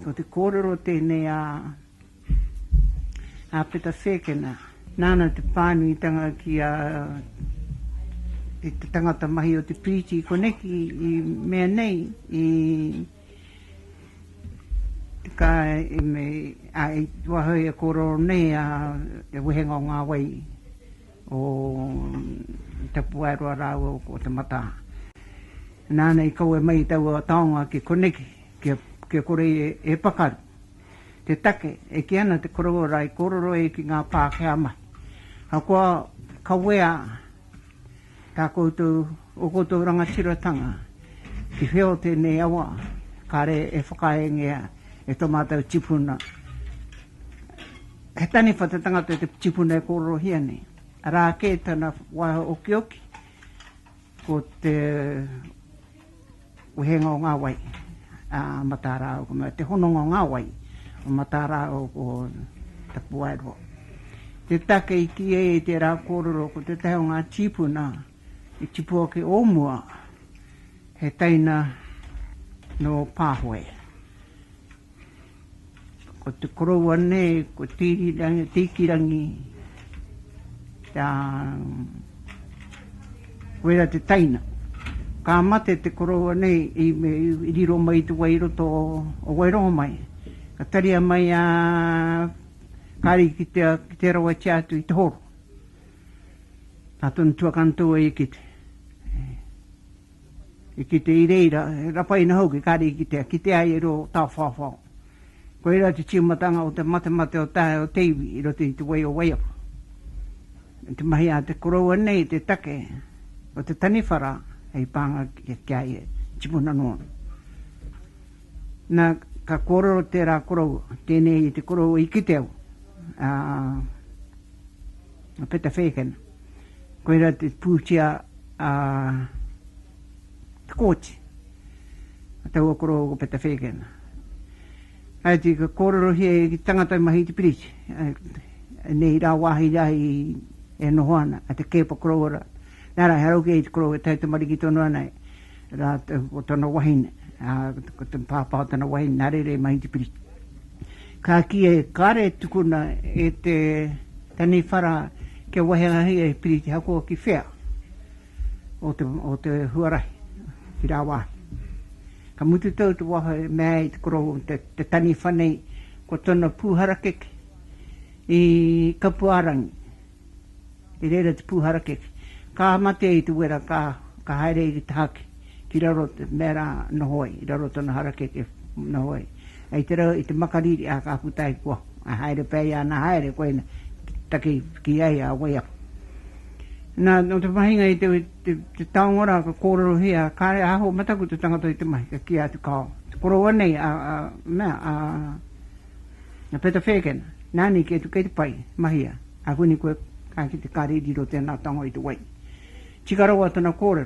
Ko te kōrero tēnei a a Peta Whēkena. Nāna te pānuitanga ki a e te tangata mahi o te piriti koneki i mea nei i ka i me a i wahoi e kōrero nei a e wehenga o ngā wai o Tapuaeroa rāua ko Te Mataa. Nāna i kawe mai i taua taonga ki koneki. kia kore e pakaru. Te take, e kī ana te koroua i kōrero ai ki ngā Pākehā mahi. Ahakoa kawea tā koutou, ō koutou rangatiratanga ki whio tēnei awa, kāre e whakaeengea e tō mātou tipuna. He taniwha te tangata te tipuna e kōrerohia nei. Arā kē tana waiho okioki, ko te. Wehenga o ngā wai a Matarao, me te hononga o ngā wai o Matarao ko Tapuaeroa. Te take i kī ai i tērā kōrero ko tētahi o ngā tīpuna i tipu ake o mua, he teina nō Pāhoe. Ko te koroua nei ko Tiikirangi te wera te taina. Ka mate te koroua nei i riro mai te wai i roto o Wairongo mai. Ka taria mai a Kari ki te rawatia atu i te horo. Ka tonu tuakana tou e kite. I kite i reira, he rapaina hoki kare i kitea, kite ai e rua o Tawhawhao. Koirā te tīmatanga o te matemate o te hae o te iwi i roto i te wai o Waiapu. Me te mahi a te koroua nei te take o te taniwhara hei pānga ki a ia, tipuna noa. Na, ka kōrero tērā koroua, tēnei te koroua i kite au, ā, a Peta Fagan, koirā te pūtea a Te Kooti, a taua koroua ko Peta Fagan. Ai te ka kōrerohia e te tangata i mahi i te piriti, nei rā wāhi rā i e noho ana, a te kēpa koroua rā. Nā rā, he arau kē i te koroua e tae tamariki tonu ana e rātou ko tana wahine, ko te pāpā o tana wahine nā reira i mahi i te piriti. Ka kīia he kare e tukuna e te taniwhara kia wahehahia he piriti hakoaki whea o te huarahi ki rāwāhi. Ka mutu tau te waho e mea ai te korou te taniwha nei ko tona pū harakeke i Kapuārangi. I reira te pūharakeke. Ka mate i te wera, ka, ka haere i te haki, ki raro te mea rā, noho ai, i raro tona harakeke, noho ai. I te rau, i te makariri, ā, ka puta ai, kua, ā, haere pea ia, nā, haere koina, taki, ki ai a Waiapu. Nā, nō te pahinga i te, te, te taonga rā, ka kōrerohia, kāre e aho mataku te tangata i te mahi, ka kī atu, kāo, te koroua nei, a, a, mea, a, Na Peta Whēkena, Nani kei tu kei te pai, mahia, a Whini koe, ka kite kare i riro tena tango i te wai. Tika rawa tana korero.